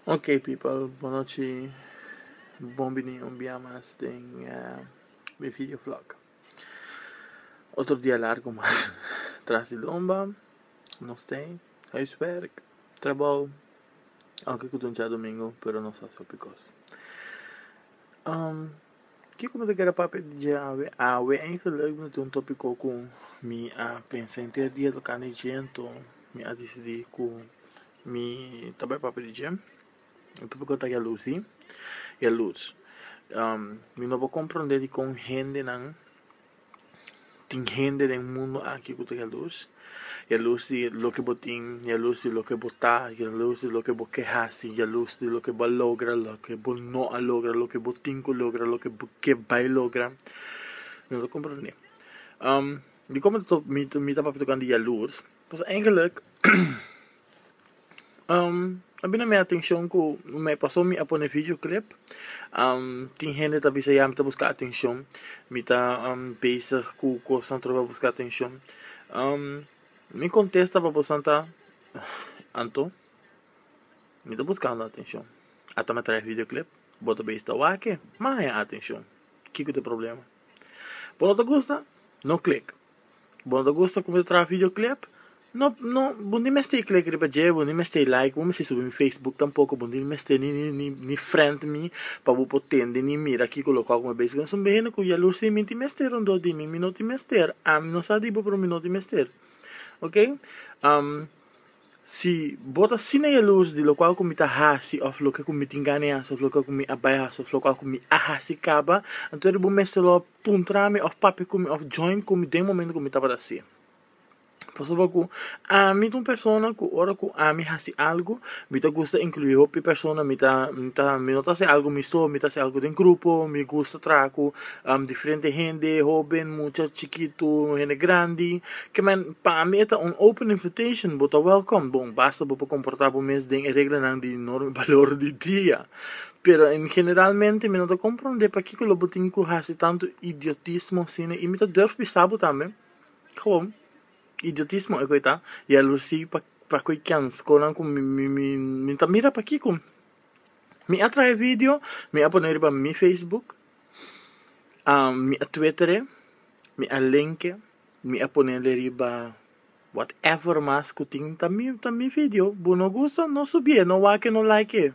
Ok people bonochi bon bini un bia mas den mi video vlog otro dia largo mas tras di lomba nos stay huiswerk trabou aunke ku dunchi a domingo pero nos a haci hopi cos. Kiko mi ta keda papia di dje awe? Awe e gelukkig no tin un topiko ku mi a pensa henter dia tokante dje anto mi a disidi ku mi ta bai papia di dje e topiko ta yalusi yaluts mi no por komprende dikon hendenan Tin hende den mundu aki ku ta yalus, yalus di loke bo tin, yalus di loke bo ta, yalus di loke bo ke hasi, yalus di loke bo a logra, loke bo no a logra, loke bo tin ku logra, loke bo ke bai logra. No ta komprondé. Dikon mi ta papia tokante yalus? Pues, eigenlijk. a bini na mi atencion cu me paso mi a pone video clip tin hende ta bisa ya mi ta busca atencion mi ta bezig cu cos na trova busca atencion mi contesta pa boso nan ta anto mi ta buscando atencion ata me trae video clip bo ta bezi ta wake mi a haña atencion kico ta e problema bo no ta gusta no click. Bo no ta gusta como ta traha videoclip? No no bo ni mester click riba dje bo ni mester like bo mester subi mi facebook tampoco bo ni mester ni ni ni ni friend mi pa bo por tende ni mira kico lo cual cu mi bezig esun behende cu yalur si mi tin mester rondó di mi mi no tin mester ami no sa di bo pero mi no tin mester ok. Si bo ta asina e lus di lokual ku mi ta hasi, òf loke ku mi tin gana di hasi, òf loke ku mi a bai hasi, òf lokual ku mi a hasi kaba, anto ora bo mester lo puntra mi, òf papia ku mi, òf join ku mi den momento ku mi tabata hasi. Pasobra ku ami ta un persona ku ora ku ami hasi algu, mi ta gusta inkluí hopi persona, mi ta, mi ta, mi no ta hasi algu mi so, mi ta hasi algu den grupo, mi gusta traha ku Diferente hende, hoben, mucha, chikitu, hende grandi. Ke men, pa ami e ta un open invitation, bo ta welkom. Bon, basta bo por komportá bo mes den e reglanan di norma i balor di dia. Pero en generalmente mi no ta komprondé pakiko lo bo tin ku hasi tantu idiotismo asina. I mi ta durf bisa bo tambe, Gewoon, idiotismo e ku e ta. Ya lo si pa pa koe kèns konan ku mi mi mi mi ta mira pakiko mi a traha e video, mi a pone riba mi facebook. Mi a twitter'e, mi a link'e, mi a ponel'e riba whatever mas ku tin, ta mi ta mi video, bo no gusta no subi'e, no wak e no like e,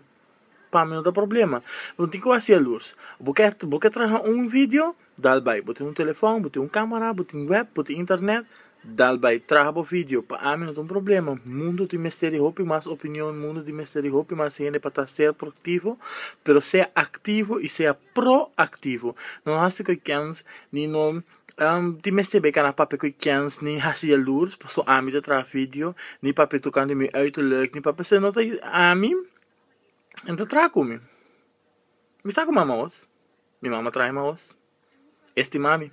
pa mi no ta problema, bo tin ku hasi'e lus, bo ke bo ke traha un video, dal bai, bo tin un telefòn, bo tin un kamera, bo tin wèp, bo tin internet Dal bai traha bo video. Pa ami no ta un problema. Mundo tin mester di hopi mas opinion, mundo tin mester di hopi mas hende pa ta ser proactivo, pero sea activo y sea proactivo. No haci cu kens ni no tin mester be cana papia cu kens ni haci jaloers paso ami ta traha video, ni papia tucando in mi uiterlijk, ni papia sino ami, e ta traha cu mi. Mi sa cu mi ama wos. Mi mama traha mi aos. E stima mi.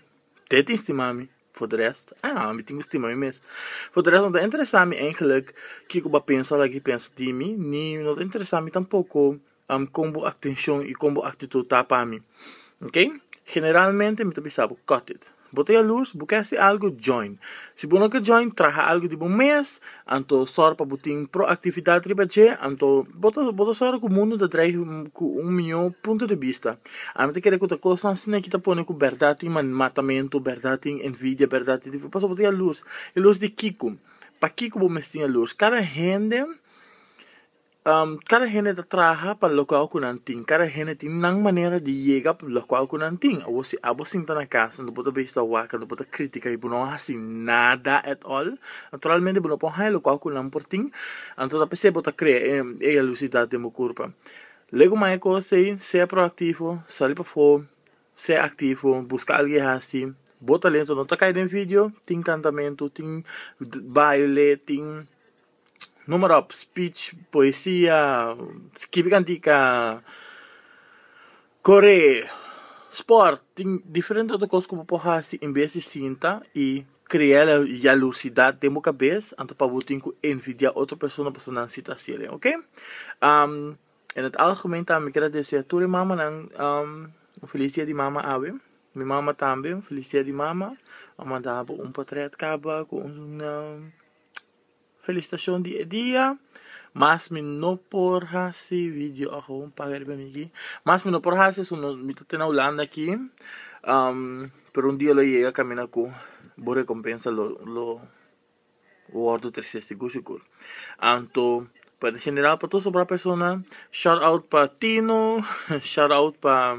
Te tin stima mi. For de rest, ah, mi tin cu stima mi mes. For de rest no ta interesa mi eigenlijk kico bo a pensa of lagi pensa di mi, ni no ta interesa mi tampoco con bo atencion y con bo actitud ta pa mi. Ok? Generalmente mi ta bisa bo cut it. Bo ta yalurs? Bo kèsti algu? Join! Si bo no ke join traha algu di bo mes, anto sòru pa bo tin proaktividat riba dje, anto bo ta bo ta sòru ku mundu ta dreif ku un mió punto di bista. A no ta kere ku ta kos nan asina ki ta pone ku bèrdat tin man matamentu, bèrdat tin envidia, bèrdat tin difícil, pasobra bo ta yalurs. Yalurs di kiko? Pa kiko bo mes tin yalurs? Kada hende. Kada hende ta traha pa lokual ku nan tin. Kada hende tin nan manera di yega pa lokual ku nan tin. Awor si abo sinta na kas kantu bo ta bai stawá, kantu bo ta kritika i bo no a hasi nada at all, naturalmente bo no por haña lokual ku nan por tin, anto ta p'esei bo ta krea e e yalusidat den bo kurpa. Lego mai e kos ei, sea proaktivo, sali pafó, sea aktivo, buska algu e hasi. Bo talentu no ta kai den video, tin kantamentu, tin baile, tin. Numero op, speech, poesia, skibi kantika, kore, sport, tin diferente otro kos ku bo por hasi en bes di sinta i krea la yalusidat den bo kabes anto pa bo tin ku envidia otro persona pasobra nan si ta hasi e oke en het algemen tambe mi keda desea tur e mamanan un felis dia di mama awe mi mama tambe un felis dia di mama a manda bo un potret kaba ku un. Felicitacion di e dia mas mi no por hasi video ahon paga riba mi aki mas mi no por hasi eso no mi ta te na Hulanda aki pero un dia lo yega caminda cu bo recompensa lo lo wordo trece si gushi cul anto pa e general pa tur sobrado persona shout out pa Tino shout out pa.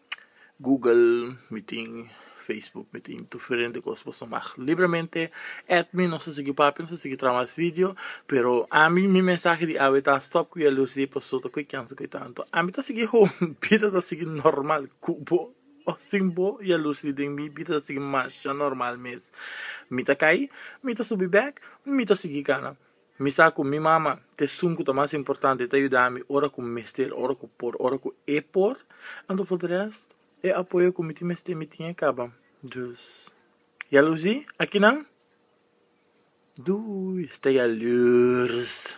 Google mi tin Facebook mi tin diferente cos boso mag libremente add mi nos ta sigui papia nos ta sigui traha mas video pero ami mi mensahe di awe ta stop cu jaloes di pasobra cu e cansa cu e tanto ami ta sigui ho mi bida ta sigui normal cu bo o sin bo jaloes di den mi bida ta sigui masha normal mes mi ta cay mi ta subi back mi ta sigui cana Mi sa cu mi mama ta esun cu ta mas importante, ta yuda mi ora cu mester, ora cu por, ora cu e por, anto for di rest, e apoyo cu mi tin mester mi tin e caba. Dus, yalosi aki nan? Doei, esta yalurs.